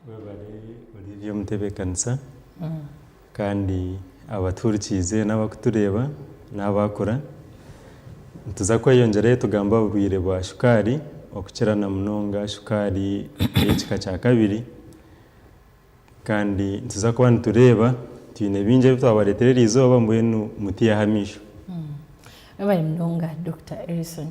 Webare Olivia Omutebeekanisa kandi abatuhurikiize n'abakutureeba n'abaakura. Nituza kweyongyerayo tugambe aha burwaire bwa shukaari okukira na munonga shukaari ey'ekika kya kabiri. Kandi nituza kuba nitureeba twine bingi ebi twabareetera eri izooba mbwenu mutaihaho amaisho. Webale munonga Dokita Erison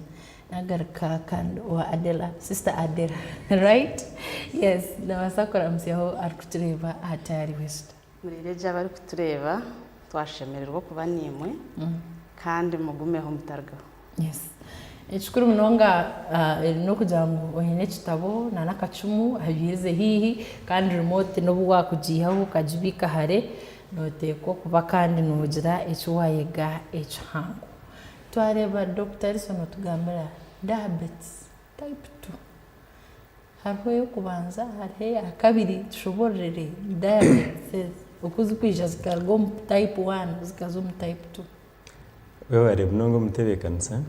nagaruka kandi owa Adela sister Adela right yes nabasa kuramutsyaho arikutureeba aha tayaari wesita. Murire gye abarikutureeba twashemererwa okuba naimwe kandi mugumeho mutarugaho. Yes. Ekikuru munonga eh, n'okugira ngu oine ekitabo na n'akacumu ahabiirize haihi kandi remote n'obu waakugiihaho okagibiika hare nooteekwa okuba kandi noogira eki waayega ekihango. Twareeba Dokita Alice nootugambira diabetes type two. Hariho ey'okubanza hariho eya kabiri tushoboororere diabetes oku zirikwija zikaruga omu type one zikaza omu type two. Webare munonga omutebekanisa,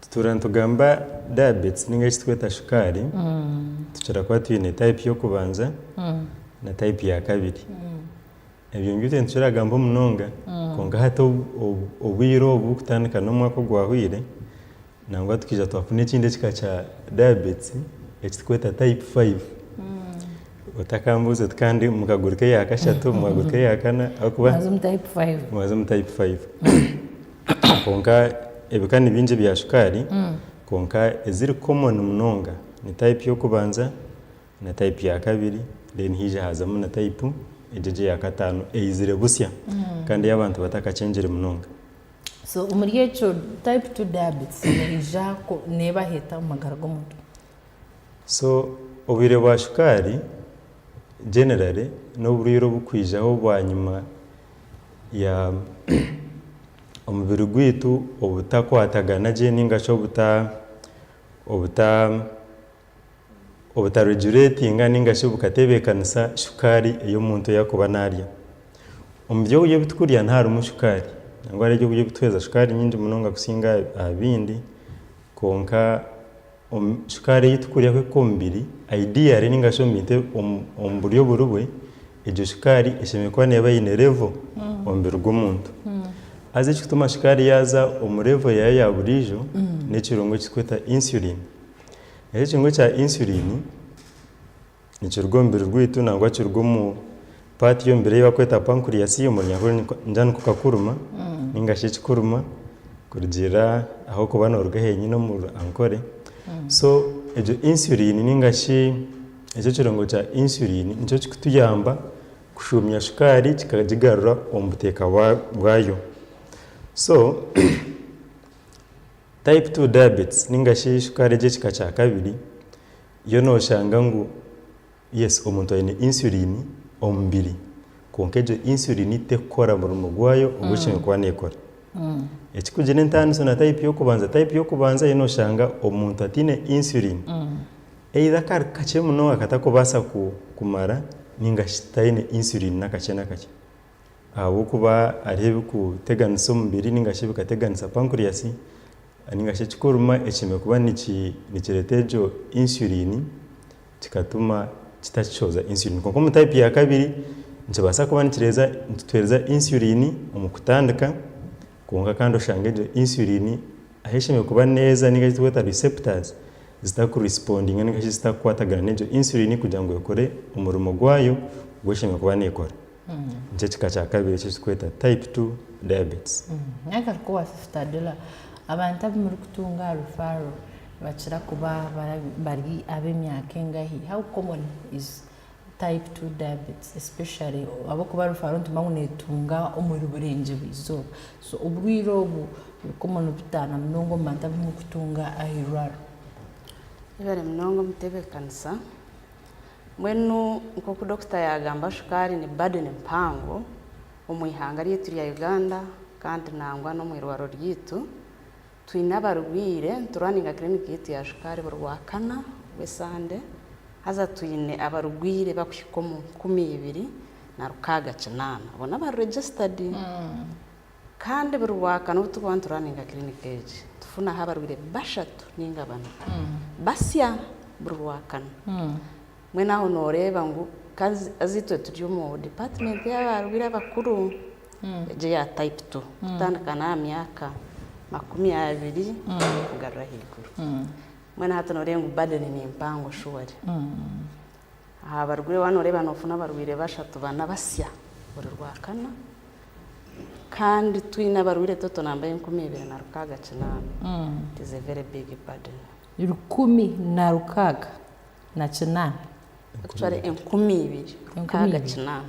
tutuura nitugamba diabetes ninga eki turikweta shukaari, tukira kuba twine type y'okubanza na type ya kabiri, ebyo nibyo itwe nituragamba munonga, kwonka hati obwiire obu kutandika n'omwaka ogwahweire, Nangwa tukaija twafuna ekindi ekika kya diabetes ekiturikweta type five otakambuuze tukaba ndi omu kaguru k'eya kashatu omu kaguru k'eya kana ahabw'okuba Maze omu type five. maze omu type five kwonka ebika ni bingi ebya shukaari kwonka eziri common munonga ni type y'okubanza na type ya kabiri then haija haazamu na type egyo egyo eya kataano eizire busya kandi ei abantu batakakyengire munonga. So omuri ekyo type two diabetes neija neeba heta omu magara g'omuntu. So obwire bwa shukaari generally n'oburwire obukwijaho bwanyima ya omubiri gwaitu obutakwatagana gye ningashi obuta obuta obutareguretinga nainga shi obukatebeekanisa shukaari ei omuntu yaakuba naarya. Omu byokurya ebi turikurya niharimu shukaari nangwa hariho ebyokurya ebituheereza shukaari nyingi munonga kusinga aha bindi kwonka shukaari ei turikurya kuhika omu mubiri ideally nainga shi omu buryo buri bwe, egyo shukaari eshemereire kuba neeba eine level omu mubiri gw'omuntu. Haza ekirikutuma shukaari yaaza omu level yaayo ya buriijo n'ekirungo eki turikweta insulin. Eki ekihingwa ekya insulin nikiruga omu mubiri gwaitu nangwa kiruga omu paati y'omubiri ei barikweta pancreas omu runyarwanda ningira nikwo kakuruma ninga shi ekikuruma kurugiirira ahabw'okuba nooruga henyini omu runyiriri. So egyo insulin ninga shi ekyo ekirungo kya insulin nikyo kirikutuyamba kushuumya shukaari kikagigarura omu buteeka bwayo. So Type two diabetes ninga shi shukaari egy'ekika kya kabiri, yo nooshanga ngu yes omuntu aine insulin omu mubiri kwonka egyo insulin terikukora murimo gwayo ogu eine kuba neekora. Ekirikugira entaaniso na type y'okubanza, type y'okubanza yo nooshanga omuntu ataine insulin either akari kakye munonga aku atarikubaasa kumara ninga shi taine insulin n'akakye n'akakye. Ahabw'okuba hariho ebikuteganisa omubiri nainga shi ebikateganisa pancreas nainga shi ekikorima ekihemeriire kuba nikireeta egyo insulin kikatuma kitakishohoza insulin. Kwonka omu taipu ya kabiri, nikibaasa kuba nikituheereza insulin omu kutandika kwonka kandi oshange egyo insulin ahu ehemeriire kuba neeza nainga shi eki turikweta receptors zitakurisipondinga nainga shi zitakukwatagana n'egyo insulin kugira ngu ekore omurimo gwayo ogu ehemeriire kuba neekora. Nikyo ekika kya kabiri eki turikweta type two diabetes. Nagaruka owa Fistadula, abantu abu murikutunga aha referral nibakira kuba bari ab'emyaka engahi? How common is type two diabetes especially ahabw'okuba referral nitumanya ngu neetunga omuri Burengyerwa eizooba. So oburwire obu buri common buta namunonga omu bantu abu murikutunga aha irwariro? Ibare munonga omutebeekanisa. Mbwenu nk'oku Dokita yaagamba shukaari ni burden mpango omu ihanga ryaitu rya Uganda kandi nangwa n'omu irwariro ryaitu. Twine abarwaire, nituraninga clinic yaitu ya shukaari buri Rwakana rw'esande haza twine abarwaire bakuhika omu nkumi ibiri na rukaaga kinaana. Abo n'abari registered. Kandi buri Rwakana obu turikuba nituraninga kiriniki egi, tufunaho abarwaire bashatu nainga bana basya buri Rwakana. Mbwenu aho nooreeba ngu ka haza itwe turi omu dipaatimenti y'abarwaire abakuru, egyo eya Type Two, kutandika n'aha myaka makumi abiri kugarura ahaiguru. Mbwenu hati nooreeba ngu burden ni mpango shuwari. Aha barwaire waaba nooreeba noofuna abarwaire bashatu bana basya buri Rwakana kandi twine abarwaire toto namba enkumi ibiri na rukaaga kinaana. It is a very big burden. Rukumi na rukaaga na kinaana? Actually enkumi ibiri rukaaga kinaana.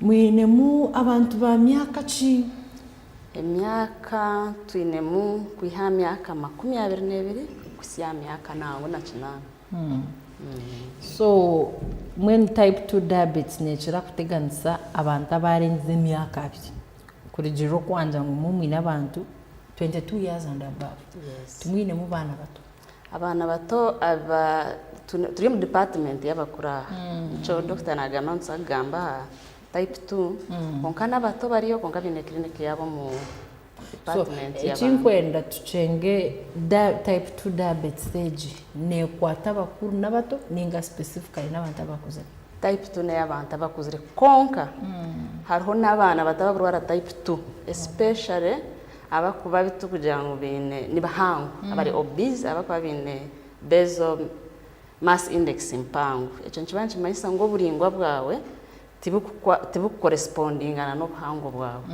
Mwinemu abantu ba myaka ki? Emyaka, Twinemu kwiha aha myaka makumi abiri n'ebiri kuhisya aha myaka naangu na kinaana. So mbwenu type two diabetes neekira kuteganisa abantu abaarengize emyaka abiri. Kurugiirira oku waagira ngu imwe mwine abantu twenty two years and above, timwinemu baana bato. Abaana bato aba turi omu dipatimenti y'abakuru aha nikyo dokita naagamba ngu tuza kugamba aha tayipu tu kwonka n'abato bariyo kwonka baine kiriniki yaabo omu dipatimenti y'abaana. Eki nkwenda tukyenge tayipu tu dayabeetisi egi neekwata abakuru n'abato nainga sipesifikare n'abantu abakuzire? Tayipu tu n'ey'abantu abakuzire kwonka hariho n'abaana bato ababurwara tayipu tu esipeshare Abarikuba bi turikugira ngu baine, ni bahango, abari obese abarikuba baine basal mass index mpango. Ekyo nikiba nikimanyisa ngu oburaingwa bwawe tiburikukorespondingana n'obuhango bwawe.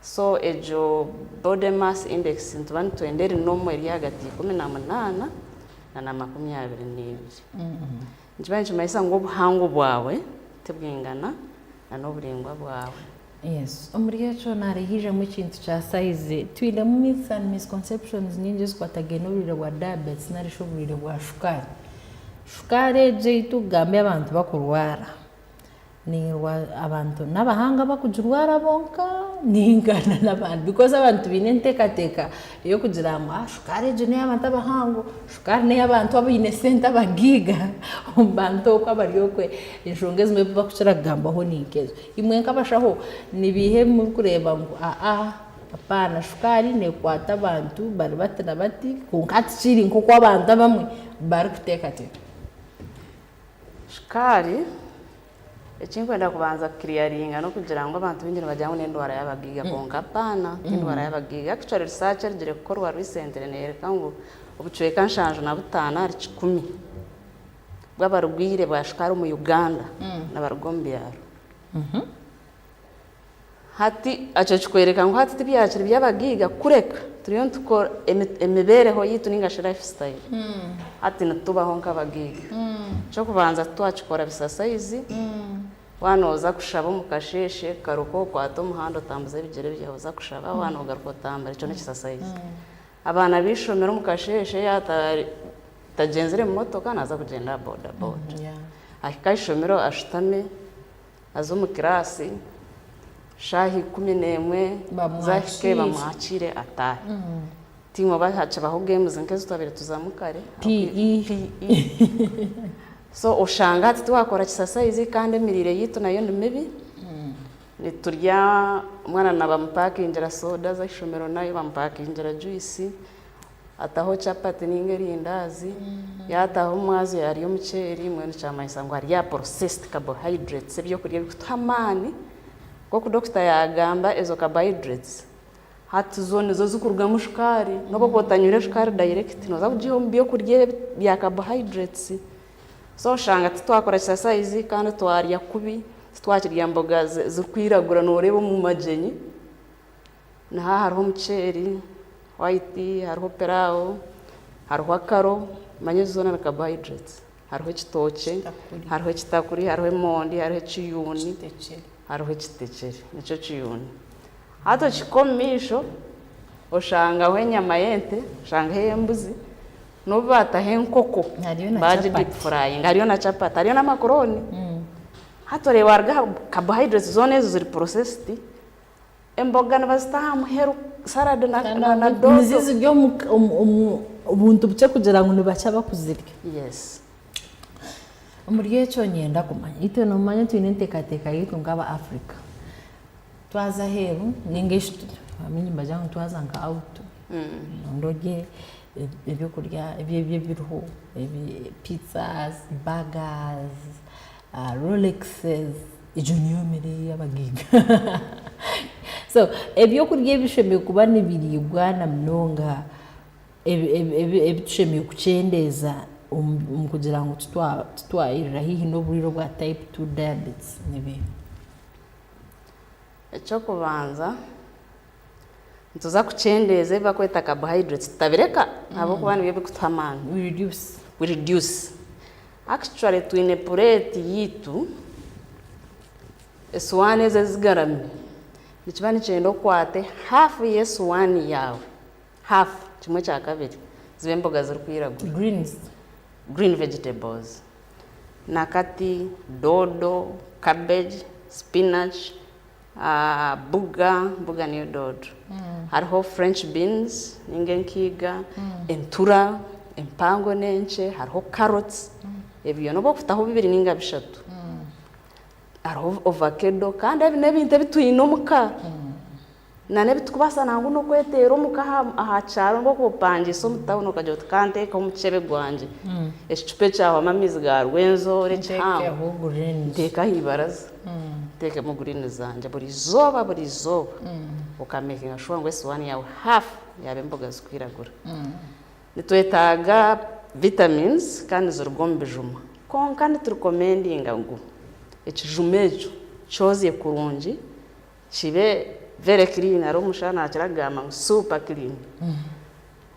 So egyo body mass index nituba nitwenda eri nomu eri ahagati ya ikumi na munaana na na makumi abiri n'ebiri. Nikiba nikimanyisa ngu obuhango bwawe tibwingana na n'oburingwa bwawe. Yes. Omuri ekyo nari haijamu ekintu kya size. Twinemu myths and misconceptions nyingi ezikwatagaine n'oburwaire bwa diabetes nari shi oburwaire bwa shukaari. Shukaari egyo ei tukugambe abantu bakurwara, Nirwa abantu n'abahanga abakugirwara bonka ninga nanabandi because abantu baine entekateka eyokugira ngu shukaari egyo neyabantu abahango, shukaari neyabantu abaine sente abagiiga omubantu okwe abari okwe enshonga ezimwe ezibakukira kugambaho ninkezo. Imwe nkabashaho nibiiha ebimurikureeba ngu aa apaana shukaari nekwata abantu bari bati nabati kwonka tikiri nkoku abantu abamwe barikutekateka. Shukaari, eki ndikwenda kubanza kukiriyaringa n'okugira ngu abantu baingi nibagira ngu n'endwara y'abagaiga kwonka apaana ti endwara y'abagaiga actually research erugire kukorwa recently neyoreka ngu obucweka nshanju na butaano ahari kikumi bw'abarwaire ba shukaari omu Uganda nibaruga omu byaro. Hati, ekyo kikwereka ngu hati tibyakiri by'abagaiga kureka turiyo nitukora emibeereho yaitu nainga shi life style. Hati nitubaho nk'abagaiga. Eky'okubanza titwakikora bisasaizi. Waaba nooza kushaba omu kasheeshe, garuka okwate omuhanda otambuze ebigyere byawe oza kushaba, waaba noogaruka otambura. Ekyo n'ekisasaizi. Abaana b'eishomero omu kasheeshe yaaba atagyenzire motoka naaza kugyenda aha boda boda. Ahika aha ishomero ashutame. aze omu kiraasi shaaha ikumi n'emwe zaahika bamwakire ataahe. Tiimwe oba hakibaho games nk'ezi twabaire tuzamu kare, PE, so oshanga hati tiwakora kisasayizi kandi emiriire yaitu nayo ni mibi, niturya omwana nabamupakingira soda aze aha ishomero nayo bamupakingira juyisi. Ataho chapati ninga erindaazi, yaataho omwazi yarya omuceeri mbwenu kyamanyisa ngu arya processed carbohydrates, ebyokurya ebikutuha amaani. Nk'oku dokita yaagamba ezo carbohydrates hati zo nizo zikurugamu shukaari. N'obu okuba otanywire shukaari direct nooza kugiiha omu byokurya ebi bya carbohydrates. So oshanga titwakora exercise kandi twarya kubi, titwakirya mboga zirikwiragura nooreeba omu magyenyi. Niha hariho omuceeri, white, hariho pilawo, hariho akaro, manya ezo zoona ni carbohydrates. Hariho ekitookye, hariho ekitakuri, hariho emondi, hariho ekiyuuni, hariho ekitekyere, nikyo kiyuuni. Hati okihika omu maisho, oshangaho enyama y'ente, oshangaho ey'embuzi, n'obu baataho enkoko baagidipufurayinga, hariyo na chapati, hariyo n'amakurooni. Hati oreeba waruga aha carbohydrates zoona ezo ziri processed, Emboga nibazita aha muheru, saradi na doodo. Nizo ziri omu buntu bukye kugira ngu nibakye abakuzirya. Omuri ekyo niinyenda kumanya, itwe noomanya twine enteekateeka yaitu nk'aba Africa, twaza aheeru nainga shi abandi nibagira ngu twaza nka awutu, noyenda orye ebyokurya ebi ebiriho, piiza, baga, Rolex egyo niyo mere yabagaiga so ebyokurya ebishemereire kuba nibiriibwa na munonga ebitushemereire kukyendeeza kugira ngu titwayerera haihi noburwaire bwa type two diabetes nibiiha? Ekyokubanza. Nituza kukyendeeza ebi barikweta carbohydrates tutabireka ahabw'okuba nibyo birikutuha amaani. We reduce. We reduce. Actually twine pureeti yaitu, esuwaani ezi ezigarami, nikiba nikyenda okwate haafu y'esuwaani yaawe, haafu, kimwe kya kabiri, zibe emboga zirikwiragura. Greens. Green vegetables. Nakati, doodo, cabbage, spinach, Buga, buga niyo doodo. Hariho French beans ninga enkiiga, entura empango n'enkye, hariho carrots. Ebi byona obu okutaho bibiri ninga bishatu. Hariho ovakedo kandi ebi n'ebintu ebi twine omu ka. Na n'ebi turikubaasa nangwa n'okweteera omu ka aha kyaro mbwenu ku opangiise omu tawuni okagira oti ka nteeke omu muceebe gwangye ekicupa ekyahwamu amaizi ga Rwenzori ekihango nteeke aha ibaraza. Ntekemu green zangye buri izooba buri izooba oka makinga sure ngu esiwaani yaawe half yaaba emboga zirikwiragura. Nitwetaaga vitamins kandi niziruga omu bijuma kwonka niturikomendinga ngu ekijuma ekyo kyozye kurungi kibe very clean hariho omushana nakira kugamba ngu super clean.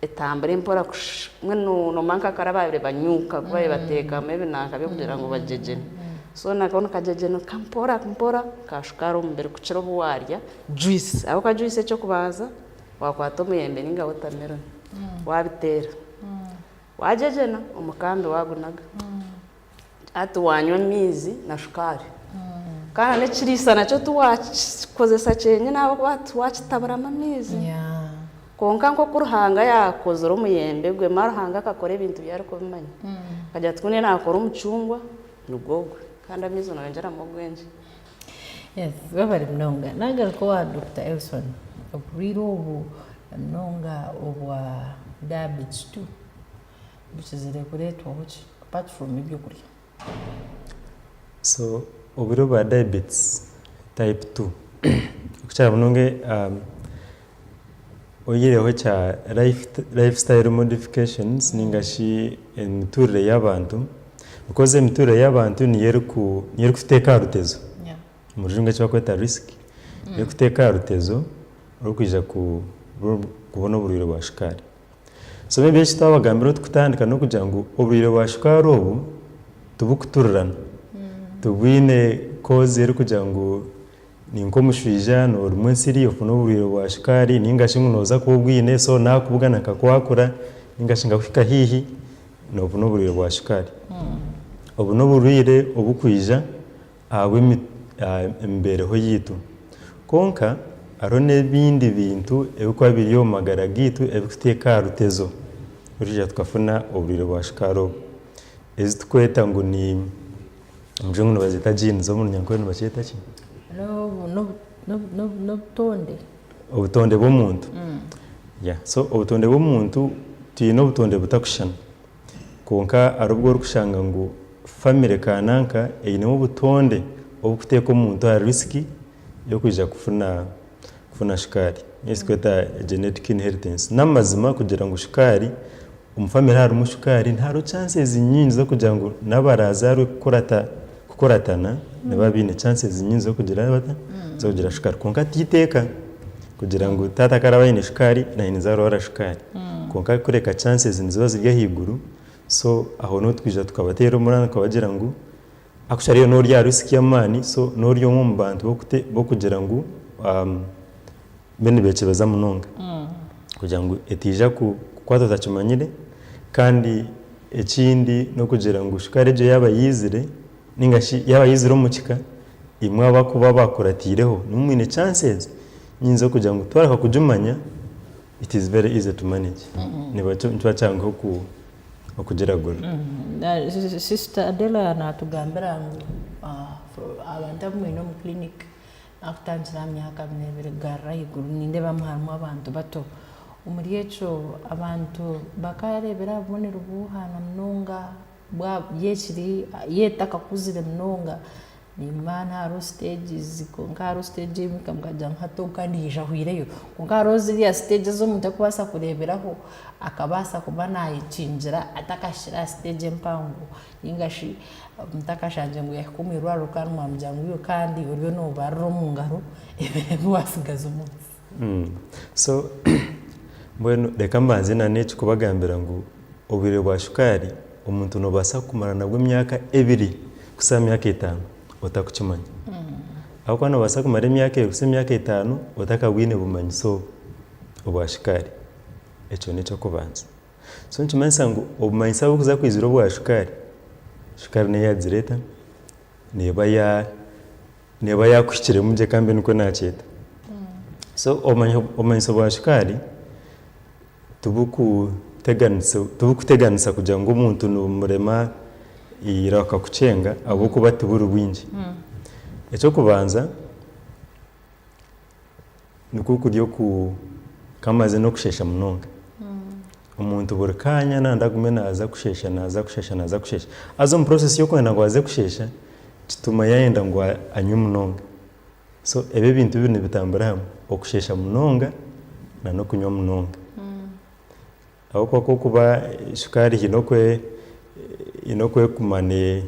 Etambura empora kushusha mbwenu noba nka kare ababire banyuka ku babire batekamu ebinanka byo kugira ngu bagyegyene so nako nikagyegyenuka mpora mpora nka shukaari omu mubiri kukira obu warya juice ahabw'okuba juice eky'okubanza wakwata omuyembe ninga watermelon wabiteera wagyegyena omukambi wagunaga. Hati wanywa amaizi na shukaari kandi n'ekiriisa nakyo tiwakikozesa kyenyini ahabw'okuba hati wakitaburamu amaizi. Kwonka nk'oku Ruhanga yaakozire omuyembe gwe, mara Ruhanga akakora ebintu bye arikubimanya. Akagira ati, Ku niyo naakora omucungwa, nigwo gwe, kandi amaizi nooyongyeramu ogwengye. Webare munonga. Naagaruka owa Dokita Elson, oburwaire obu na munonga obwa diabetes tu. bukizire kuretwaho ki apart from ebyokurya. So obwire obwa diabetes type two okukira munonga oyireho ekya life style modifications ninga shi emiturire yabantu because emiturire yabantu niyo erikuteka aha rutezo omu rujungu eki barikweta risk erikuteka aha rutezo rwokwija kubona oburwire bwa shukaari. Soma ebi Yesu twabagambira oti kutandika n'okugira ngu oburwaire bwa shukaari obu tiburikuturirana. Tibwine koozi erikugira ngu ni nk'omushwija noorimwa ensiri ofune oburwaire bwa shukaari nainga shi ngu nooza kuba obwine so naakubugana akakwakura nainga shi nkakuhika haihi noofuna oburwaire bwa shukaari. Obu n'oburwaire oburikwija ahabw'emibeereho yaitu. Kwonka, hariho n'ebindi bintu ebirikuba biri omu magara gaitu ebirikuteeka aha rutezo twija tukafuna oburwaire bwa shukaari obu. Ezi turikweta ngu ni, omu rujungu nibazeeta genes, omu runyankore nibakyeta ki? N'obutonde. Obutonde bw'omuntu, yeah. So obutonde bw'omuntu, twine obutonde butakushushana. Kwonka hariho obu orikushanga ngu famire kaananka einemu obutonde oburikuteeka omuntu aha risiki y'okwija kufuna shukaari, eki turikweta genetic inheritance. N'amazima kugira ngu shukaari, omu famire harimu shukaari, hariho eshansi nyingi z'okugira ngu n'abaraazaarwe kukurata kukuratana nibaba baine chances nyingi z'okugira bata z'okugira shukaari kwonka ti iteeka kugira ngu taata ku araba aine shukaari naanye ninza arwara shukaari kwonka kureka chances niziba ziri ahaiguru so aho niho twija tukabateera omuranga tukabagira ngu actually iwe n'ori aha risk y'amaani so n'ori omwe omu bantu b'okugira ngu Mbwenu nibekyebeza munonga kugira ngu etaija kukwata otakimanyire kandi ekindi n'okugira ngu shukaari egyo yaaba yaizire nainga shi yaaba yaizire omu kika, imwe abakuba baakurataireho nimwo mwine chances nyingi z'okugira ngu twareka kugimanya it is very easy to manage nikiba kyanguhi okugiragura. Sister Adela naatugambira ngu abantu abu mwine omu clinic. Ahakutangira aha myaka nebiri kugarura ahaiguru, nindeebamu harimu abantu bato. Omuri ekyo, abantu bakaareebera aha bubonero bw'obuhaana munonga bwa by'ekiri yo etakakuzire munonga. N'Imana hariho stages, kwonka hariho stage ei muhika mukagira ngu hati ogu ka naija ahwireyo. Kwonka hariho ziriya stage ezi omuntu arikubaasa kureeberaho akabaasa kuba naayekingira atakahikire aha stage empango. Ninga shi Omutaka ashangire ngu yahika omu irwariro kandi mwamugira ngu yo kandi oriyo nobarira omu ngaro ebiro ebi wasigaza omu nsi. So mbwenu reka mbanze na n'eki kubagambira ngu obwire bwa shukaari omuntu nobasa kumara nabwo emyaka ebiri kuhitsya aha myaka etano otakukimanya. Ahabw'okuba nobasa kumara emyaka ebiri kuhitsya emyaka etano otakabwine bumanyi so obwa shukaari. Ekyo n'eky'okubanza. So nikimanyisa ngu obumanyitsi ahu burikuza kwizira obwa shukaari, shukaari neyo yagireta neba ya neba yakuhikiremu gye kambe nikwo nakyeta. So obumanyi obumanyitso bwa shukaari tibukuteganisa tibukuteganisa kugira ngu omuntu nimurema eira akakukyenga ahabw'okuba tiburi bwingi. Eky'okubanza, nikwo kuri oku kamaze n'okushesha munonga omuntu buri kaanya nanda agume naza kushesha naza kushesha naza kushesha haza omu process y'okwenda ngu aze kushesha kituma yayenda ngu anywe munonga so ebi ebintu bibiri nibitambura hamwe okushesha munonga na n'okunywa munonga ahabw'okuba ahabw'okuba shukaari haine oku haine oku ekuma ne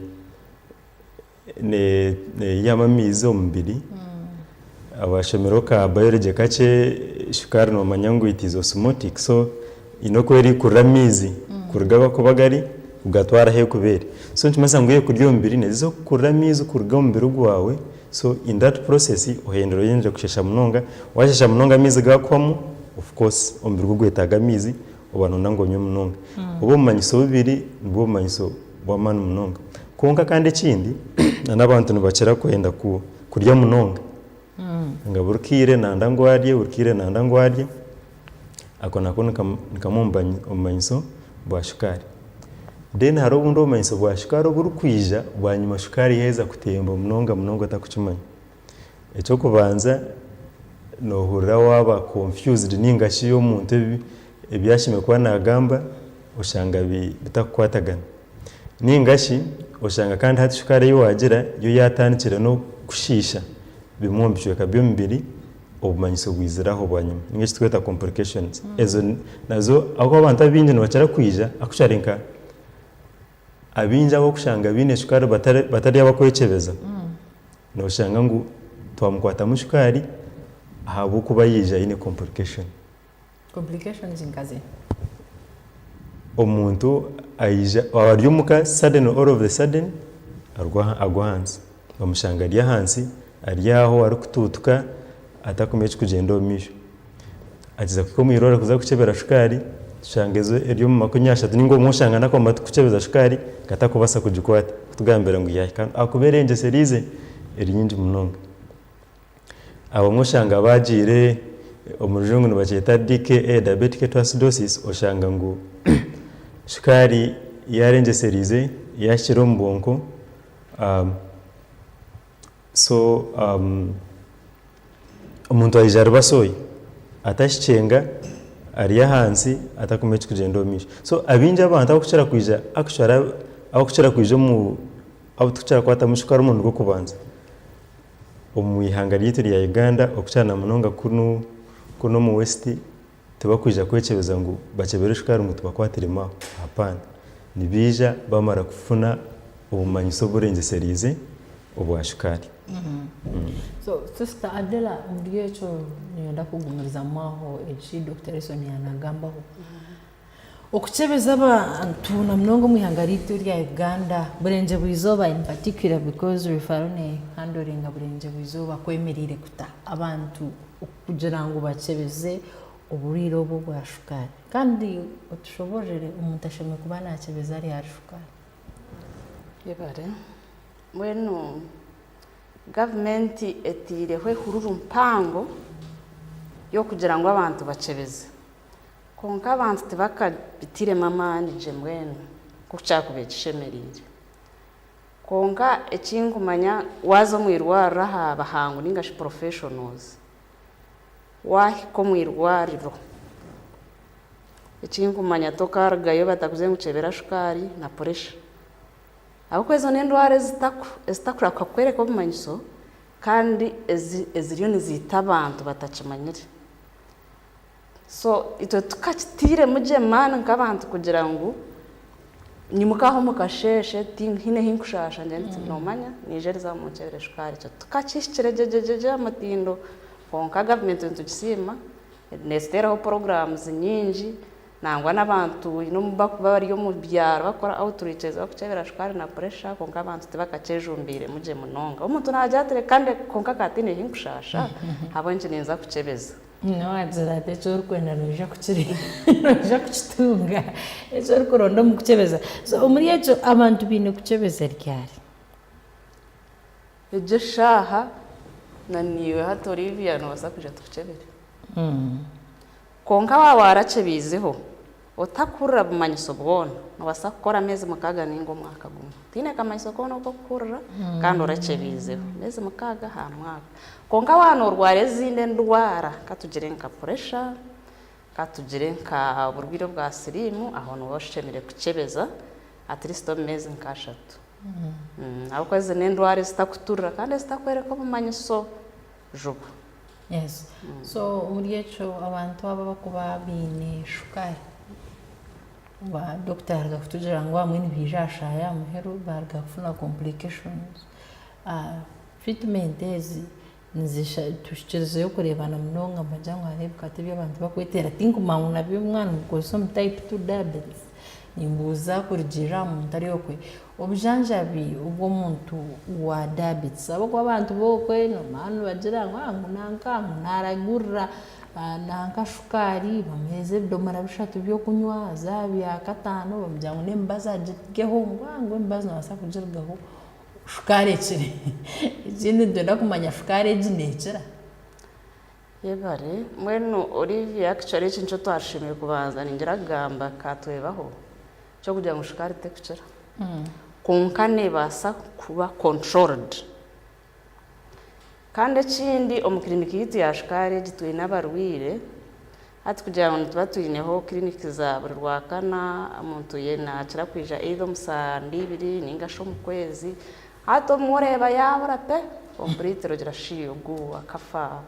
Neyihamu amaizi omu mubiri, abashomireho ka biology kakye, shukaari nomanya ngu it is osmotic so eyine oku eri kurira amaizi kuruga ahakuba gari kugatwara ahu erikuba eri. So nikimanyisa ngu eyekuri omu mubiri neziza kukurira amaizi kuruga omu mubiri gwawe so in that process ohendere oyendere kushesha munonga, washesha munonga amaizi gakuhwamu of course omubiri gwo gwetaaga amaizi Oba nooyenda ngu onywe munonga. Obu obumanyiso bubiri nibwo bumanyiso bw'amaani munonga. Kwonka kandi ekindi, n'abantu nibakira kwenda kurya munonga. Nga buri kaire nanda ngu arye, buri kaire nanda ngu arye. Ako nako ni kamwe omu bumanyiso bwa shukaari. Then hariho obundi obumanyiso bwa shukaari oburikwija bwanyima shukaari yaaheza kutemba munonga munonga otarikukimanya. Eky'okubanza noohurira waaba confused nainga shi omuntu ebi ebi ashemereire kuba naagamba oshanga bi bitakukwatagana. Nainga shi oshanga kandi hati shukaari ei waagira yo yaatandikire n'okukushiisha bimwe omu bicweka by'omubiri obumanyiso bwizire aho bwanyima nainga shi eki turikweta complications. Ezo nazo ahabw'okuba abantu abaingi nibakira kwija akushware nka. Abaingi ab'okushanga baine shukaari batari abakwekyebeza, noshanga ngu twamukwatamu shukaari ahabw'okuba yaija aine complication. Complications nkazi? Omuntu aija, ari omuka suddenly all of the sudden agwa ahansi. Omushanga ari ahansi, ari aho arikutuutuka atakumanya ekirikugyenda omu maisho. Akiza kuhika omu irwariro kuza kukyebera shukaari, tushanga eri omu makumi ashatu nainga obumwe oshanga n'akooma turikukyebeza shukaari ngu atakubaasa kugikwata kutugambira ngu yaahika hanu ahakuba erengyeseire ize eri nyingi munonga. Abamwe oshanga baagiire omu rujungu nibakyeta DKA, Diabetic Ketoacidosis, oshanga ngu shukaari yaarengyesereize, yaahikire omu bwonko. Um, so um, omuntu aija ari basoyi atashicenga ari ahansi atakumanya ekikugyenda omu maisho so abingi abantu abakukira kwija actually ab- abakukira kwija omu abu tukukira kwatamu shuka ari omurundi gw'okubanza omu ihanga ryaitu rya Uganda okukira na munonga kunu kunu omu west Tibakwija kwekyebeza ngu bakyeberwe shukaari ngu tibakwata irima aho. Hapana. Nibaija baamara kufuna obumanyiso oburengyesereize obwa shukaari. So sister Adela omuri ekyo niinyenda kugumirizamu aho eki Dokita Erison yaanagambaho. Okukyebeza abantu na munonga omu ihanga ryaitu erya Uganda burengye bw'eizooba in particular because refaro ne handlinga burengye bw'eizooba kwemereire kuta abantu kugira ngu bakyebeze oburwaire obu obwa shukaari kandi otushoboororere omuntu ashemereire kuba nakyebeza ari ahari shukaari? Yebare. Mbwenu gavumenti eteireho ehururu mpango y'okugira ngu abantu bakyebeze. Kwonka abantu tibakabitairemu amaani gye mbwenu nk'oku kyakubaire kishemereire. Kwonka eki nkumanya waaza omu irwariro aha bahangu nainga shi professionals, waahika omu irwariro, eki nkumanya tokaarugayo batakugire ngu kyebera shukaari na puresha. Ahabw'okuba ezo n'endwara ezitakurabaasa kukworeka obumanyiso kandi eziriyo niziita abantu batakimanyire. so itwe tukakitairemu gye maani nk'abantu kugira ngu nyimukaho omu kasheeshe tihaine ei nkushaasha ngira nti noomanya niija erize aha munkyebere shukaari ekyo tukakihikire gye gye gye aha mutindo kwonka gavumenti nitugisiima neeziteeraho puroguraamu nyingi nangwa n'abantu haine obu barikuba bari omu byaro barikukora outreach barikukyebera shukaari na puresha kwonka abantu tibakakyejumbiiremu gye munonga omuntu naagira ati reka ndeke kwonka ka tihaine ei nkushaasha ahabw'enki ninza kukyebeza Nyina we aagira ati, Eki orikwenda noija noija kukitunga, eki orikuronda omu kukyebeza. So omuri ekyo abantu baine kukyebeza ryari? Egyo eshaaha na naiwe hati Olivia noobaasa kwija tukukyebere. Kwonka waaba waarakyebiizeho. Otakuhurira bumanyiso bwona, nobaasa kukora ameezi mukaaga nainga omwaka gumwe otaine kamanyiso koona oku okuhurira kandi orakyebiizeho emeezi mukaaga aha mwaka. Kwonka waaba norwara ezindi endwara katugire nka puresha, katugire nka oburwiire bwa siriimu aho nooba oshemereire kukyebeza at least omu meezi nka ashatu ahabw'okuba ezi n'endwara ezitakuturira kandi ezitakworeka obumanyiso. juba. Yes so omuri ekyo abantu abo abakuba baine shukaari ba doctor yaruga kutugira ngu abamwe nibaija aha shaaha ya muheru baruga kufuna complications treatment ezi tuhikirizeyo kureebana munonga nogira ngu hariho ebikatu ebi abantu bakweteera tinkumanya ngu nabyo mwaaba nimukozesa omu type two diabetes nimbuuza kurugiirira aha muntu ari okwe Obujanjabi obu omuntu wa diabetes, ahabw'okuba abantu b'okwe nomanya nibagira ngu ngu nanka ngu naaragurira nanka shukaari bamuheereza ebidomoora bishatu by'okunywa zaaba byakataano bamugira ngu n'emibazi agirugeho ngu a ngu emibazi noobaasa kugirugaho shukaari ekire. Ekindi nitwenda kumanya shukaari egi neekira? Yebare. Mbwenu Olivia actually eki nikyo twarushemereire kubanza ningira kugamba ka twebaho. Eky'okugira ngu shukaari tekukira, kwonka neebaasa kuba controlled. Kandi ekindi omu clinic yaitu ya shukaari egi twine abarwaire, hati kugira ngu nituba twineho clinic za buri Rwakana, omuntu ye naakira kwija either omu saa mbi ibiri nainga shi omu kwezi. Hati obumwe oreeba yaabura pe, completely ogira shi ogwo akafa.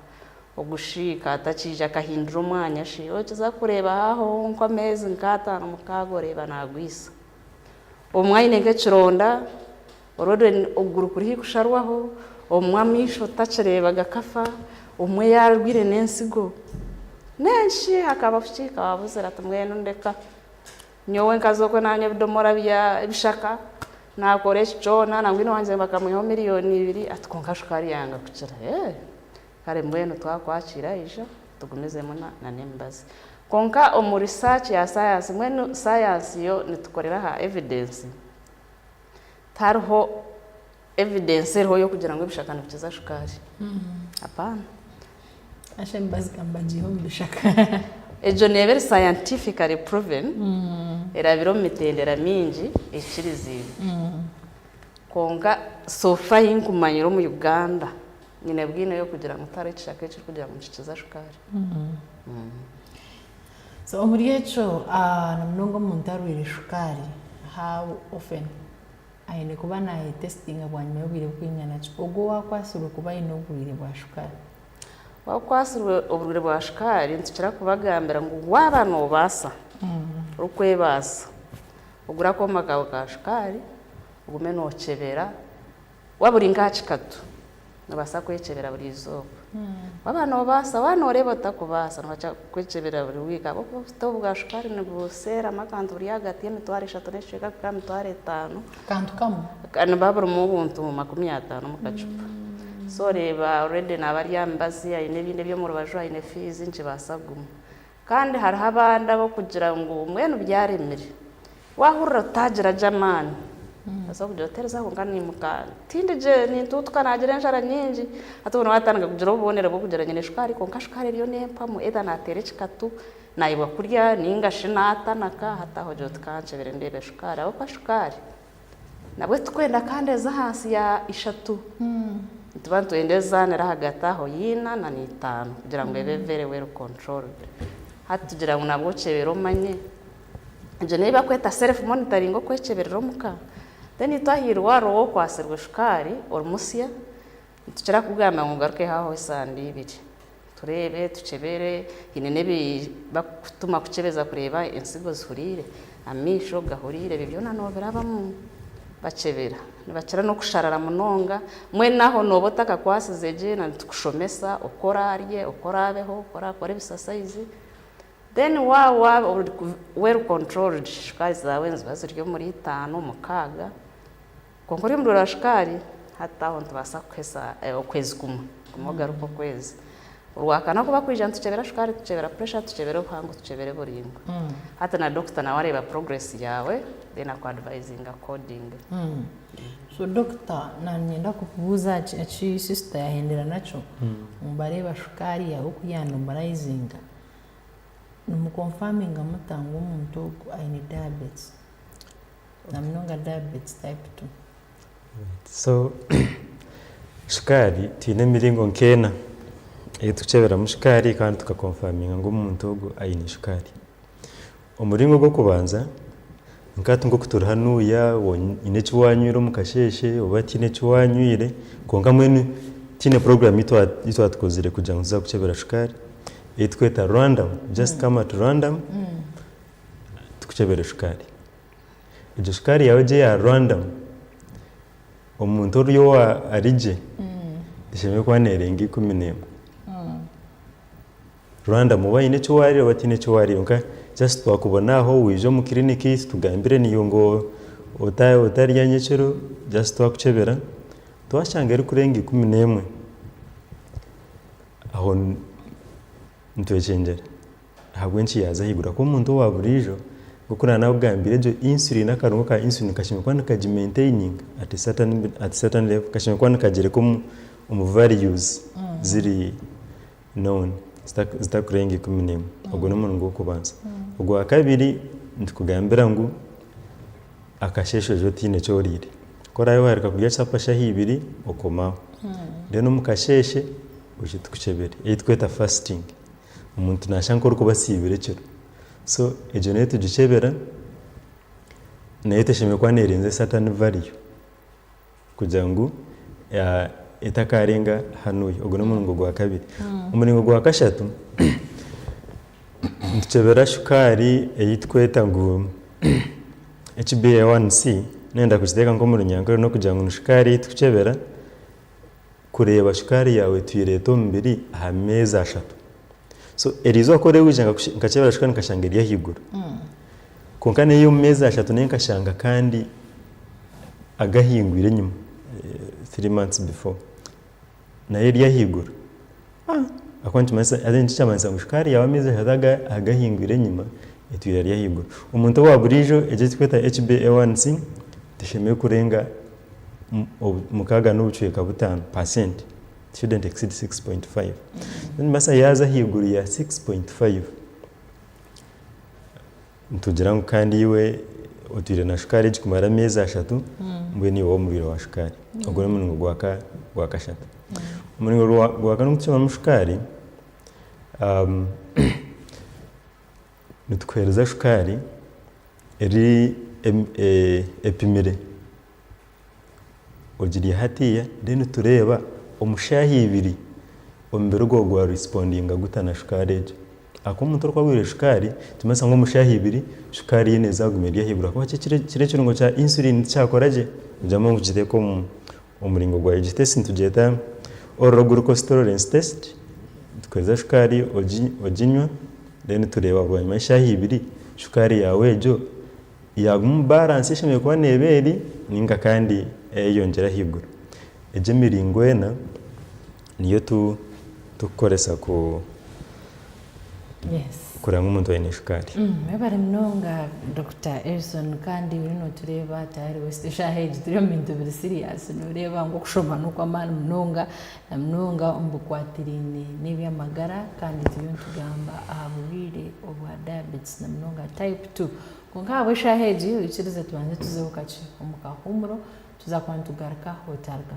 Ogushwika atakiija akahindura omwanya shi okiza kureeba haho nka ameezi nka ataano mukaaga oreeba nagwisa. Obumwe aine nka ekironda orwo okuguru kuri haihi kusharwaho, obumwe amaisho otakireeba gakafa, obumwe yarwiire n'entsigo. Nenki hakaba kukihika wabuzire ati mbwenu ndeka nyowe nkaza okwe nanywa ebidomora bya ebishaka nakora eki kyoona nangwine wangye bakamwihaho million ibiri ati kwonka shukaari yanga kukira eeh. Kare mbwenu twakwakira ija otugumizemu na n'emibazi. Kwonka omu research ya sayansi, mbwenu sayansi yo nitukorera aha evidence, tihariho evidence eriho y'okugira ngu ebishaka nibikiza shukaari. Apaana. Hashi emibazi ka mbagiihe omu bishaka. Egyo neeba eri scientifically proven, erabire omu mitendera mingi ekiriziibwe. Kwonka so far ahi nkumanyire omu Uganda, Nyine bwine y'okugira ngu tihariho ekishaka ekirikugira ngu nikikiza shukaari. So omuri ekyo na munonga omuntu arwaire shukaari, how often aine kuba nayetesitinga bwanyima y'obwire bwingana ki? Ogwo owakwatsirwe kuba aine oburwaire bwa shukaari? Owakwatsirwe oburwaire bwa shukaari nitukira kubagambira ngu waaba noobaasa, orikwebaasa, ogure akooma kaawe ka shukaari, ogume nookyebera. Waaba ori nk'aha kikatu, noobaasa kwekyebera buri izooba. Waaba noobaasa, waaba nooreeba otakubaasa, noobaasa kwekyebera buri wiiki ahabw'okuba obusito bwa shukaari nibuseeramu akantu buri ahagati y'emitwaro eshatu n'ekicweka kuhika aha mitwaro etaano. Akantu kamwe? Nibuba burimu obuntu makumi ataano omu kacupa. So oreeba already naaba ari aha mibazi, aine ebindi eby'omu rubaju, aine fiizi, nikibaasa kuguma. Kandi hariho abandi ab'okugira ngu mbwenu byaremire. Waahurira otaagira gye amaani, noobaasa kugira oti eriza kwonka niimuka tindi gye, nintuutuka naagira enjara nyingi. Hati obwo naatandika kugira obubonero bw'okugira nyine shukaari kwonka shukaari eriyo n'empamu either naateera ekikatu, naayebwa kurya nainga shi naatanaka, hati aho ogira oti kankyebere ndeebe shukaari ahabw'okuba shukaari Nabwe tikwenda kandi eze ahansi ya ishatu. Nituba nitwenda ezaana eri ahagati aho y'eina na n'eitaano kugira ngu ebe very well controlled. Hati tugira ngu nabwo okyebere omanye. Egyo n'eyi bakweta self monitoring okwekyeberera omuka. Then itwe aha irwariro w'okwatsirwe shukaari, ori musya, Nitukira kukugamba ngu ogarukeho aho esande ibiri tureebe, tukyebere, haine n'ebi bakukutuma kukyebeza kureeba entsigo zihuriire, amaisho gahuriire, ebyo byona nobirabamu bakyebera. Nibakira n'okusharara munonga, mbwenu aho nooba otakakwasize gye na nitukushomesa oku oraarye, oku oraabeho, oku oraakore ebisasayizi, then waaba ori well controlled, shukaari zaawe niziba ziri omuri itaano, mukaaga. Kwonka orurimi ruraba shukaari, hati aho nitubaasa kuhitsya okwezi kumwe, guma ogaruke okwezi. Orwakana kuba kwija nitukyebera shukaari, tukyebera pressure, tukyebera obuhango, tukyebere buri imwe. Hati na doctor nawe areeba progress yaawe then aku advisinge according. So doctor nanyenda kukubuuza eki sister yahendera nakyo, ngu bareeba shukaari yaawe oku ya normalizinga, nimu confirminga muta ngu omuntu ogu aine diabetes? namunonga diabetes type two. So shukaari twine emiringo nk'ena ei turikukyeberamu shukaari kandi tuka confirminga ngu omuntu ogwo aine shukaari. Omuringo gw'okubanza nka hati nk'oku turi hanuuya oyine eki wanywire omu kasheeshe oba tihaine eki wanywire kwonka mbwenu twine puroguramu ei ei twatukozire kugira ngu tuza kukukyebera shukaari ei turikweta random, just come at random tukukyebere shukaari. Egyo sukaari yaawe gye ya Rwanda, omuntu ori owa ari gye, eshemereire kuba neerenga ikumi n'emwe. Rwanda mu baine eki waariire oba otaine eki waariire kwonka just twakubona aho waija omu kiriniki tugambire niiwe ngu otarya nyekiro just twakukyebera twashanga erikurenga ikumi n'emwe, aho nitwekyengyera. ahabw'enki yaaza ahaiguru ahakuba omuntu owaaburiijo nk'oku naanakugambire egyo insulin akarungo ka insulin kashemereire kuba nikagimentaininga at a certain at a certain level kashemereire kuba nikagireka omu omu values ziri known zita zitakurenga ikumi n'emwe ogwo n'omuringo gw'okubanza. Ogwakabiri nitukugambira ngu akasheeshe oije otiine eki oriire ku oraabe waaruga kurya chapa shaaha ibiri okomaho then omu kasheeshe oije tukukyebere ei turikweta fasting. Omuntu nashusha nk'orikuba asiibire ekiro. So egyo nayo tugikyebera, nayo teshemereire kuba nerinze Satan Vario kugira ngu etakarenga hanuya. Ogwo n'omuringo gwa kabiri. Omuringo gwa kashatu, nitukyebera shukaari ei turikweta ngu HBA1C, nayenda kugiteeka nk'omu runyankore, n'okugira ngu ni shukaari ei turikukyebera. kureeba shukaari yaawe etu ereeta omubiri aha meezi ashatu. So eryo izooba ku orikwija nkakyebera shukaari nkashanga eri ahaiguru. Kwonka neyo omu meezi ashatu nayo nkashanga kandi agahingwire enyima, three months before, nayo eri ahaiguru. Ahakuba nikimanyisa, haza nikyo kyamanyisaga ngu shukaari yaawe amaizi ashatu aga agahingwire enyima etwiire ari ahaiguru. Omuntu owa buriijo eki ekiturikweta HbA1c teshemereire kurenga obu mukaaga n'obucweka butaano, percent, it shouldn't exceed six point five. Nikimanyisa yaaza ahaiguru ya six point five. Nitugira ngu kandi iwe otwire na shukaari egi kumara emyezi ashatu, mbwenu iwe w'omubiri wa shukaari. Ogwo n'omuringo gwa kashatu. Omuringo gwa kane ogw'okucwamu shukaari, nitukuhereza shukaari eri epimire. ogirya hatiiya then tureeba omu shaaha ibiri omubiri gwawe gwa respondinga guta na shukaari egyo ahakuba omuntu orikuba abwirwe shukaari nikimanyisa ngu omu shaaha ibiri shukaari ye neeza yaaguma eri ahaiguru ahakuba kiriya ekirungo kya insulin tikyakora gye kugiramu ngu kigiteeke omu muringo gwayo egyo test nitugyeta oral glucose tolerance test tukuheereza shukaari oginywa then tureeba bwanyima y'eshaaha ibiri shukaari yaawe egyo Yaagumu balance eshemereire kuba neeba eri ninga kandi eyeyongyera ahaiguru. Egyo emiringo ena niyo tu tukukoresa ku Yes. kureba ngu omuntu aine shukaari. Mwebare munonga Dokita Erison kandi oriyo notureeba tayari waiswe eshaaha egi turi omu bintu biri siriyaasi noreeba ngu okushoma nokwamaani munonga. na munonga omu bikwatiraine n'eby'amagara, kandi turiyo nitugamba aha burwaire obwa diabetes na munonga type two. Kwonka ahabw'eshaaha egi oikirize tubanze tuzeho kakye omu kahuumuro, tuza kuba nitugaruka otaruga.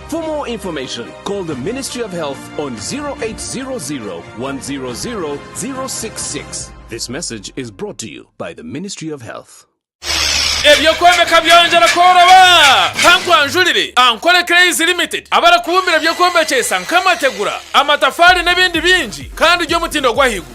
For more information, call the Ministry of Health on 0800 100 066. This message is brought to you by the Ministry of Health. Eby'okwombeka byongyera kworoba. Ka nkwanjurire Ankole Clays Limited abarikubumbira eby'okwombekyesa nk'amategura, amatafaari n'ebindi bingi kandi by'omutindo gw'ahaiguru.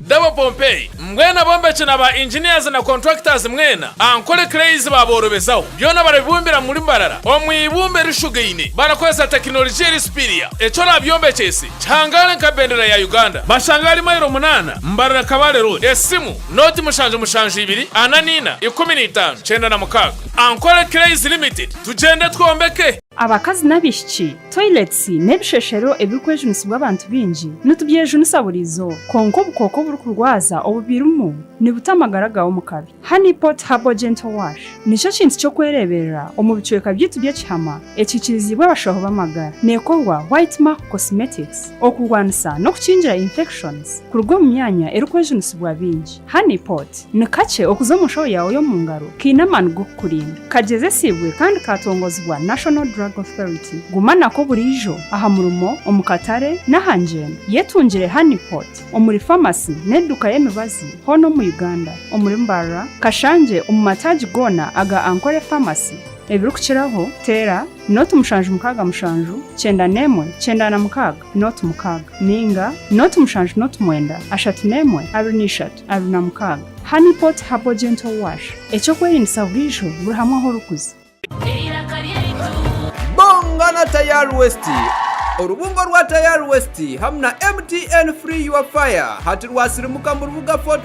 Dabo Pompey, mbwenu abombeki na ba engineers na contractors mwena, ankole cranes baaborobezaho, byona barabibumbira muri mbarara omu ibumba erishugaine barakoresa tekinologia eri superior, eki oraabyombekyese kihangaale nka bendera ya Uganda. Bashanga ahari mailo munaana Mbarara Kabale Road. Esimu, Noti mushanju mushanju ibiri ana na ina ikumi na itaano kyenda na mukaaga. Ankole Cranes Limited, tugyende twombeke. Abakazi n'abaishiki, toilets, n'ebisheshero ebirikwejunisibwa abantu baingi nitubyejunisa buri izooba. Kwonka obukooko oburikurwaza obu birimu nibuta amagara gaawe omu kabi. Honey Pot Herbal Gentle Wash nikyo kintu ky'okwereeberera omu bicweka byaitu by'ekihama ekihikiriziibwe abashaho b'amagara. Neekorwa White Mark Cosmetics okurwanisa n'okukingira infections kuruga omu myanya erikwejunisibwa baingi. Honey pot, Ni kakye okuza omu nshoho yaawe y'omu ngaro kaine amaani g'okukurinda. Kagyezesiibwe kandi kaatongozibwa National Drug Authority. Guma nako buriijo, aha murimo, omu katare, n'aha ngyendo. Yetungire Honey pot omuri famasi n'eduuka y'emibazi hoona omu Uganda, omuri Mbarara, Kashangye, omu mataagi goona aga Ankole Pharmacy. Ebirikukiraho, teera, noti mushanju mukaaga mushanju, kyenda n'emwe, kyenda na mukaaga. noti mukaaga, nainga noti mushanju noti mwenda, ashatu n'emwe, abiri n'eishatu, abiri na mukaaga. Honey Pot Herbal Gentle Wash, eky'okwerinisa buriijo buri hamwe ahu orikuza. Bonga na Tayal West! Orubungo rwa Tayal West hamu na MTN Free Your Fire hati rwasirimuka mu rubuga Fort.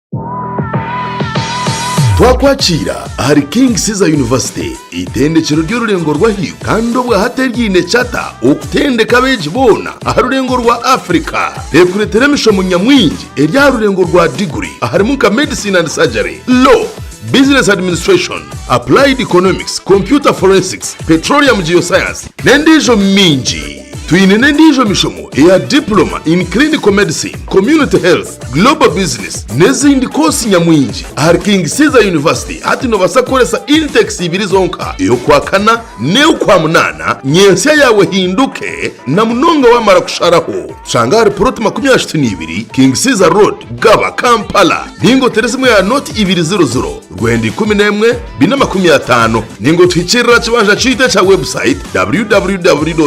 Twakwakiira ahari King Caesar University, eitendekyero ry'orurengo rw'ahaiguru kandi obwa hati eryaine charter okutendeka abeegi boona aha rurengo rwa Africa. Tekureetera emishomo nyamwingi eri aha rurengo rwa diguri aharimu nka Medicine and Surgery, Law, Business Administration, Applied Economics, Computer Forensics, Petroleum Geoscience n'endiijo mingi. Twine n'endiijo mishomo eya Diploma in Clinical Medicine, Community Health, Global Business n'ezindi koosi nyamwingi ahari King Caesar University. Hati noobaasa kukoresa intakes ibiri zonka, ey'Okwakana n'ey'Okwamunaana, nyentsya yaawe ehinduke na munonga waamara kusharaho. Tushanga ahari puloti makumi ashatu n'ibiri King Caesar Road, Gaba, Kampala, ninga otere esimu ya Note ibiri ziro ziro. Rwenda ikumi n'emwe biine amakumi ataano ninga otuhikiirire aha kibanja kyaitu ekya webusayiti www.kcu.ac.ug.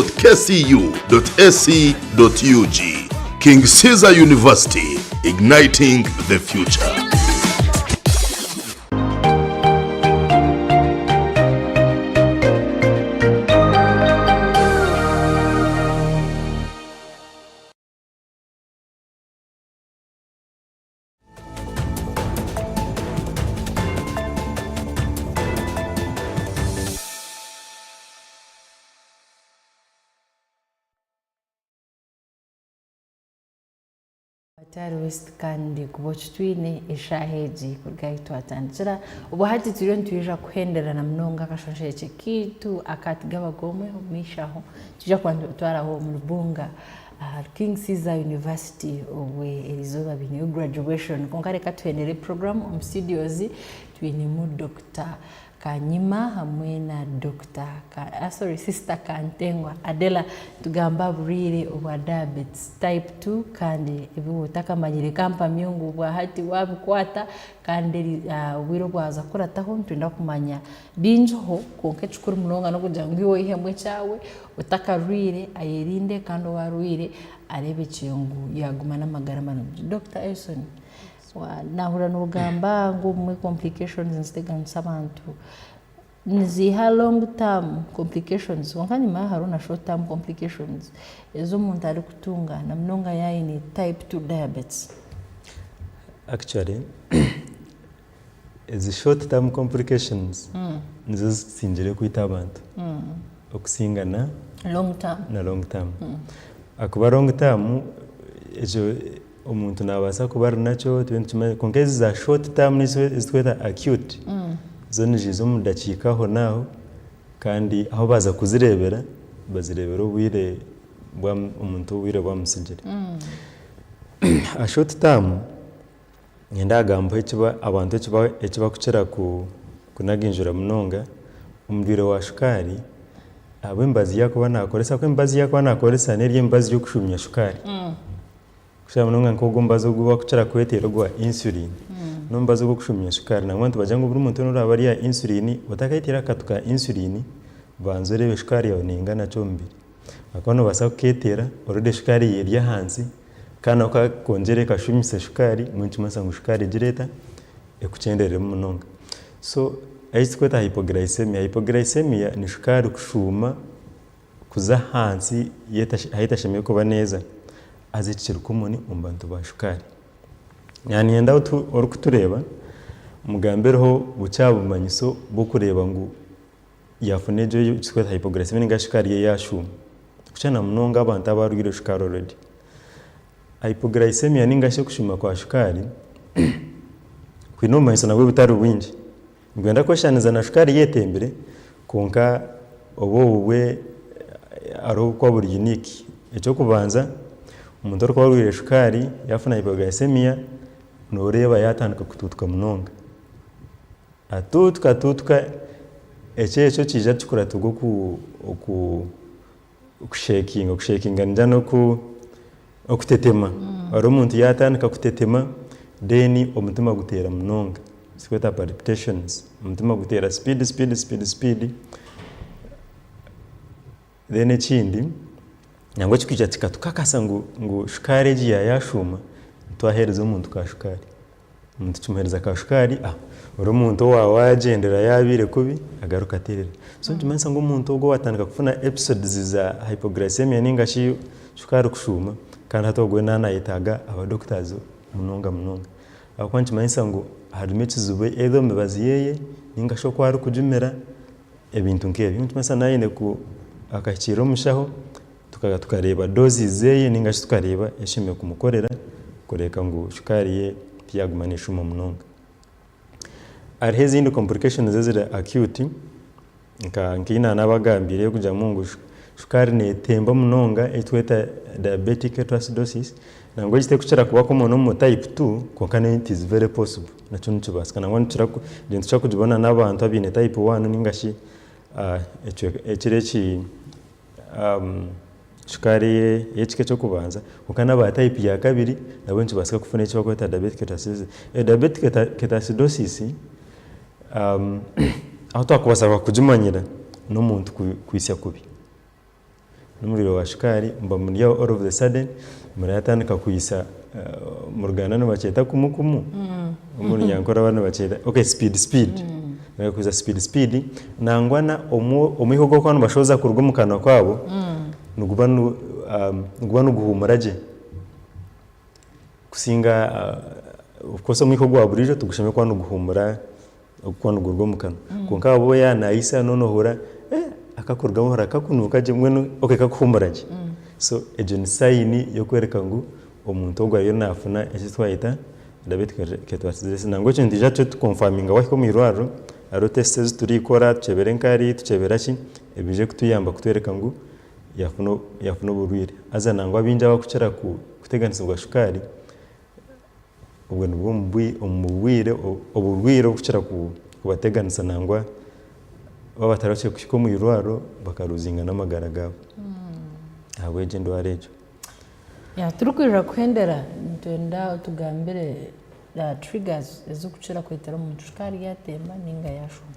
King Caesar University, Igniting the Future. Tari west kandi kuba okitwine eshaaha egi kuruga ahi twatandikira obu hati turiyo nitwija kuhenderana munonga akashosheekye kaitu akatugabaga omwe omu maisho aho twija kuba nitutwaraho omu rubunga ahari King Caesar University obwo eri izooba baineyo graduation kwonka reka tuheenere program omu studios twinemu Dokita Kanyima hamwe na Dokita ah sorry Sister Kantengwa Adela nitugambo aha burwaire obwa diabetes type two kandi ebi waaba otakamanyire ka mpamye ngu bwahati waabikwata kandi obwire obwaza kukurataho nitwenda kumanya Biingiho, kwonka ekikuru munonga n'okugira ngu iwe oihemu ekyawe, otakarwaire ayerinde kandi ou arwaire areebe gye ngu yaaguma n'amagara marungi. Dokita Elson, naahurira noogamba ngu obumwe complications niziteganisa abantu, niziiha long term complications kwonka enyima yaaho hariho na short term complications ezi omuntu arikutunga na munonga yaaba aine type two diabetes? Actually Ezi short term complications nizo zikuzingire kwita abantu okusinga na long term na long term akuba long term ekyo omuntu nabasa kuba arinakyo itwe nitukimanya kwonka ezi za short term nizo ezitweta acute zo niziza omu dakiika aho naho kandi ahu baza kuzirebera bazirebera obwire omuntu obwire bwamusigire. Aha short term Niinyenda kugambaho ekiba abantu ekiba ekibakukira ku kunaginjura munonga, omurwaire wa shukaari ahabwa emibazi yaakuba naakoresa ahabw'okuba emibazi yaakuba naakoresa n'eri emibazi y'okushuumya shukaari. Kukira munonga nk'ogwo omubazi ogu bakukira kweteera ogwa insulin, n'omubazi ogw'okushuumya shukaari nangwa nitubagira ngu buri muntu weena oraabe ari aha insulin, otakayeteera akatu ka insulin, banza oreebe shukaari yaawe neengana ki omu mubiri. Ahakuba noobaasa kukeeteera oreda esukaari yawe eri ahansi kandi nako kakongyere kashuumisa esukaari mbwenu nikimanyisa ngu esukaari egira eta? Ekukyendereremu munonga. So ahi turikweta hypoglycaemia, hypoglycaemia ni sukaari kushuuma kuza ahansi ahu etashemereire kuba neeza haza eki kiri common omu bantu ba sukaari. Niinyenda orikutureeba mugambireho bukyaabumanyiso bw'okureeba ngu yaafuna egyo ei turikweta hypoglycemia ninga shi shukaari ye yaashuma, kukira na munonga abantu abarwaire shukaari already. Hypoglycemia ninga shi okushuma kwa shukaari kwine obumanyiso nabwo butari bwingi. Nibwenda kweshushaniriza na shukaari ei etembire kwonka obwo obubwe hariho obu burikuba buri unique. Eky'okubanza omuntu orikuba arwaire shukaari yaafuna hypoglycemia nooreeba yaatandika kutuutuka munonga. Atuutuka atuutuka ekyeekyo kiija kikuratirwa oku oku okusheekinga, okusheekinga nigira ngu n'oku okutetema reero omuntu yaatandika kutetema reero omutima guteera munonga ekitweeta palpitations omutima guteera sipiidi sipiidi sipiidi Then ekindi nangwa ekikaija kikatukakasa ngu ngu shukaari egi ya yashuuma twahereza omuntu ka shukaari omuntu kimuhereza ka shukaari ah ori omuntu owa wagyendera yabaire kubi agaruka aterera so nikimanyisa ngu omuntu ogu owatandika kufuna episodes za hypoglycemia ningashi shukaari kushuuma kandi hati ogwe na nayetaaga aba doctors munonga munonga ahabw'okuba nikimanyisa ngu harimu ekizibu either omu mibazi yeye ningashi oku arikugimira. Ebintu nk'ebyo. Nikimanyisa naine ku akahikiirira omushaho, tukaza tukareeba doses zeye ninga shi tukareeba eki aine kumukorera kureeka ngu shukaari ye tiyaguma neshuma munonga. Hariho ezindi complications eziri acute nka nkeyi nanaaba agambiire ey'okugiiramu ngu shukaari netemba munonga eyi tweta diabetic ketoacidosis, nangwa egi terikukira kuba common omu type two kwonka nayo it is very possible. Nakyo nikibaasika nangwa nitukira kugibona n'abantu abaine type one ninga shi ekiro eki shukaari ey'ekika eky'okubanza kwonka n'aba type ya kabiri nabo nikibaasika kufuna eki barikweta diabetic ketoacidosis. Diabetic ketoacidosis ahu twakubaasa kugimanyira n'omuntu kwitsya kubi. Nomuriro wa shukaari bamuri aho all of the sudden mura yatandika kwitsa omu ruganda nibakyeta kumu kumu omu runyankore abandi nibakyeta okay speed speed mura kwitsa speed speed nangwa na omwiha ogu barikuba nibashohoza kuruga omu kanwa kabo niguba niguba niguhumura gye kusinga of course omwiha ogwa burijo tigushemereire kuba niguhumura Ogukwa nigurugwa omu kanwa kwonka ahabw'obu yaba nayitsya noona ohurira akakurugamu ohurira kakunuuka gye mbwenu okay kakuhumura gye. So egyo ni sign y'okworeka ngu omuntu ogwo ariyo nafuna eki twayeta diabetic ketoacidosis. Nangwa ekyo nitwija tukye tu confirminga wahika omu irwariro hariho tests ezi turikora tukyebera enkari tukyebera ki ebije kutuyamba kutworeka ngu yafuna yafuna oburwire. Haza nangwa abaingi abakukira kuteganisibwa shukaari. Obwo nibwo bwiire oburwaire obukukira kubateganisa nangwa baaba batarahukire kuhika omu irwariro bakaruzinga n'amagara gaabo ahabwegyo endwara egyo. Turikwija kuhendera nitwenda otugambire aha triggers ezirikukira kureetera omuntu kushusha nk'aryatemba ninga yaashuma.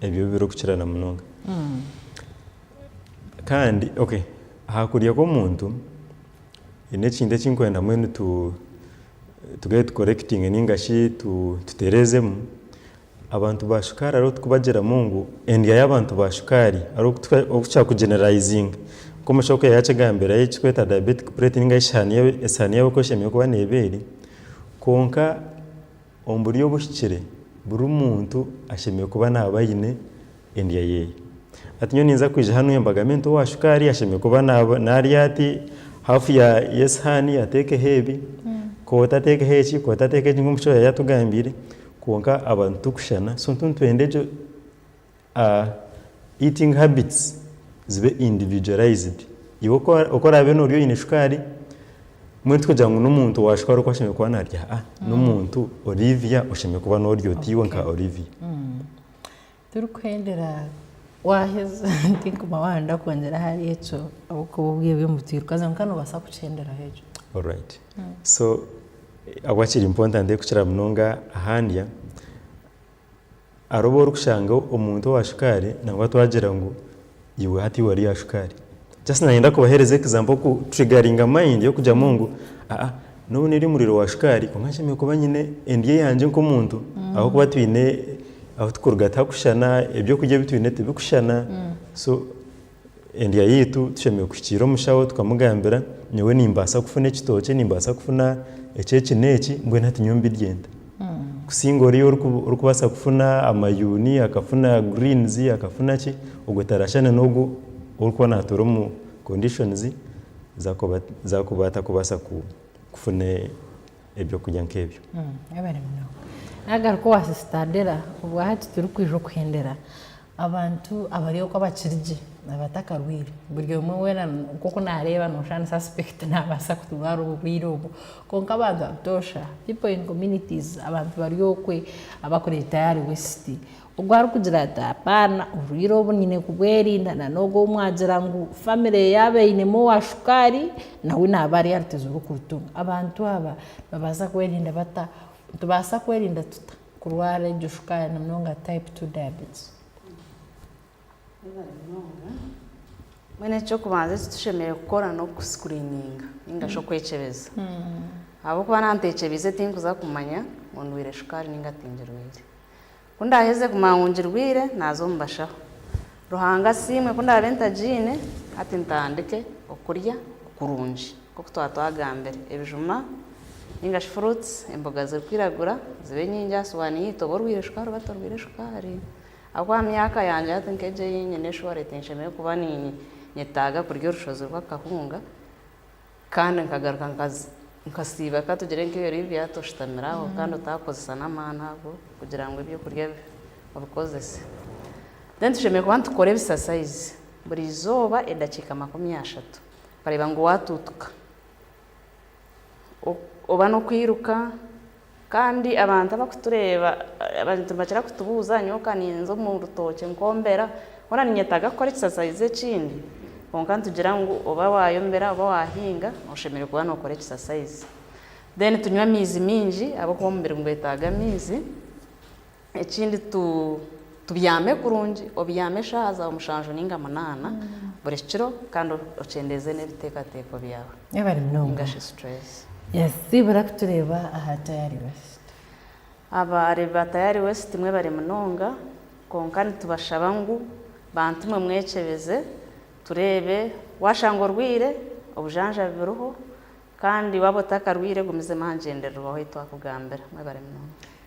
ebyo birikukira na munonga kandi aha kurya kw'omuntu haine ekintu eki ndikwenda mbwenu tugaruke tukorekitinge ninga shi tutereezemu, abantu ba shukaari hariho obu turikubagiramu ngu endya y'abantu ba shukaari hariho obu turikushusha kuginerarayizinga nka omushija oku yaakigambire eki turikweta dayabeetiki pureeti ninga shi esaani yaabo oku eshemereire kuba neeba eri kwonka Omu buryo obuhikire, buri muntu ashemereire kuba naaba aine endya ye. Hati nyowe ninza kwija hanu mbagambire nti owa shukaari ashemereire kuba narya ati, haafu y'esihaani ateekeho ebi, koota ateekeho eki, koota ateekeho eki nk'oku omushija yaabaire atugambire, kwonka abantu titurikushushana so nitwenda egyo A Eating habits zibe individualized. Iwe oku oku oraabe noorya oine shukaari, mbwenu tikugira ngu n'omuntu wa shukaari oku ashemereire kuba naarya ha, n'omuntu Olivia oshemereire kuba noorya oti iwe nka Olivia. Turikuhendera waaheza tinkuma waaba ndakwongyera ahari ekyo ahabw'okuba obwo ebyo mbu tirukaza kwonka noobaasa kukihenderaho ekyo. Alright. So ahabwaki kiri important kukira munonga aha ndya? Hariho obu orikushanga omuntu owa shukaari nangwa twagira ngu iwe hati wari owa shukaari. Just nayenda kubahereza example ku triggering mind y'okugyamu ngu aa n'obu nari omuri owa shukaari kwonka nshemereire kuba nyine endyo yangye nk'omuntu ahabw'okuba twine ahu turikuruga tihakushushana, eby'okurya ebi twine tibikushushana. Endya yaitu tushemereire kuhikiirira omushaho tukamugambira nyowe nimbaasa kufuna ekitookye, nimbaasa kufuna eki eki n'eki mbwenu hati nyowe mbirye nta? Kusinga oriya orikubaasa kufuna amayuuni, akafuna greens, akafuna ki, ogwo taraashushana n'ogwo orikuba naatuura omu conditions zaakuba zaakuba atakubaasa kufuna ebyokurya nk'ebyo. Nagaruka owa Sister Adela, obwahati turikwija okuhendera Abantu abari oku abakiri gye abatakarwaire, buri omwe weena nk'oku naareeba noshusha ni suspect naabaasa kurwara oburwaire obwo. Kwonka abantu abatoosha, people in communities, abantu bari okwe abakureetayo ahari waste, ogwo arikugira ati apaana oburwaire obu nyine kubwerinda na n'ogwo ou mwagira ngu family yaaba einemu owa shukaari nawe naaba ari aha rutezo rw'okurutunga. Abantu aba nibabaasa kwerinda bata? Nitubaasa kwerinda tuta? Kurwara egyo shukaari na munonga type two diabetes. Mbwenu eky'okubanza eki tushemereire kukora n'oku screeninga ninga shi okwekyebeza ahabw'okuba naaba ntekyebeize tinkuza kumanya ngu ndwaire shukaari ninga tingirwaire. Ku ndaaheze kumanya ngu ngirwaire naaza omu bashaho. Ruhanga asiimwe ku ndaabe ntagiine hati ntandike okurya kurungi nk'oku twaba twagambire. Ebijuma nainga shi fruits, emboga zirikwiragura zibe nyingi aha sowaani yaitu oba orwaire shukaari oba torwaire shukaari ahabw'okuba aha myaka yangye hati nk'egi ei nyine shuwa reti nshemereire kuba ninyetaaga kurya orushozi rw'akahunga. Kandi nkagaruka nkasiiba, ka tugire nk'ebi Olivia ati, oshutamire aho kandi otaakukozesa n'amaani ago kugira ngu eby'okurya obikozese. Then tushemereire kuba nitukora ebisasayizi buri izooba edakiika makumi ashatu. Okareeba ngu waatuutuka oba n'okwiruka. Kandi abantu abakutureeba nibakira kutubuuza nyowe ka ninza omu rutookye nkombera hoona ninyetaaga kukora ekisasaizi ekindi kwonka nitugira ngu oba wayombera oba wahinga oshemereire kuba nokora ekisasaizi then tunywa amaizi maingi ahabw'okuba omubiri nigwetaaga amaizi. Ekindi tubyame kurungi, obyame eshaaha zaawe mushanju nainga munaana buri kiro kandi okyendeeze n'ebiteekateeko byaawe nainga shi stress. Siibura kutureeba aha Tayari West. Abareebi ba Tayari West mwebare munonga kwonka nitubashaba ngu bantu mwe mwekyebeze tureebe waashanga orwaire obujanjabi buriho kandi waaba otakarwaire gumizamu aha ngyendererwaho ei twakugambira. Mwebare munonga.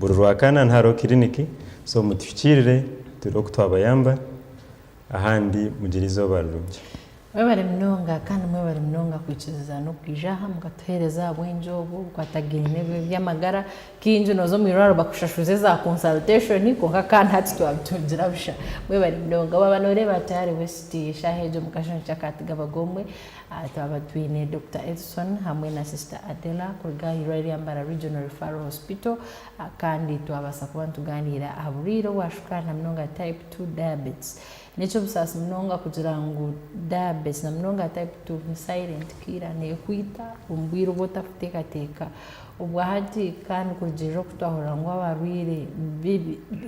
Buri Rwakaanani hariho kiriniki so mutuhikiirire tureebe oku twabayamba ahandi mugire eizooba rirungi. Mwebare munonga kandi mwebare munonga kwikiriza n'okwija aha mukatuheereza ahabwengye obu bukwatagaine bw'eby'amagara. Kaingi nooza omu irwariro bakushashuza eza consultation kwonka kandi hati twabitungira busha. Mwebare munonga. Waaba nooreeba hati hariho esiti eshaaha egyo omukazi omu kyakaati gabaga omwe Aha twaba twine Dokita Edson hamwe na Sisita Adela kuruga aha irwariro rya Mbara Regional Referral Hospital kandi twabaasa kuba nitugaaniira aha burwaire obwashukaari na munonga Type Two Diabetes. N'eky'obusaasi munonga kugira ngu Diabetes na munonga Type Two ni silent killer, neekwita omu bwire obu otarikuteekateeka obwa hati kandi kurugiirira oku twahurira ngu abarwaire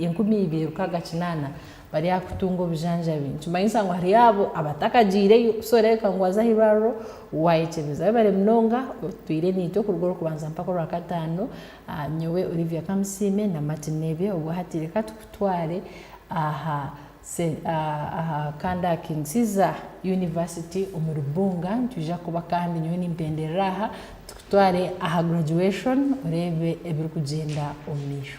enkumi ibiri rukaga kinaana bari aha kutunga obujanjabi nikimanyisa ngu hariyo abo abatakagyireyo so reebeka ngu waza aha irwariro wayekyebeza. Webare munonga otwire naitwe kuruga orwokubanza mpaka orwakataano. Nyowe Olivia Kamusiime na Martin Nebye obwo hati reka tukutware aha aha kanda aha King Caesar University omuri Bunga nitwija kuba kandi nyowe nimpenderera aha tukutware aha graduation oreebe ebirikugyenda omumaisho.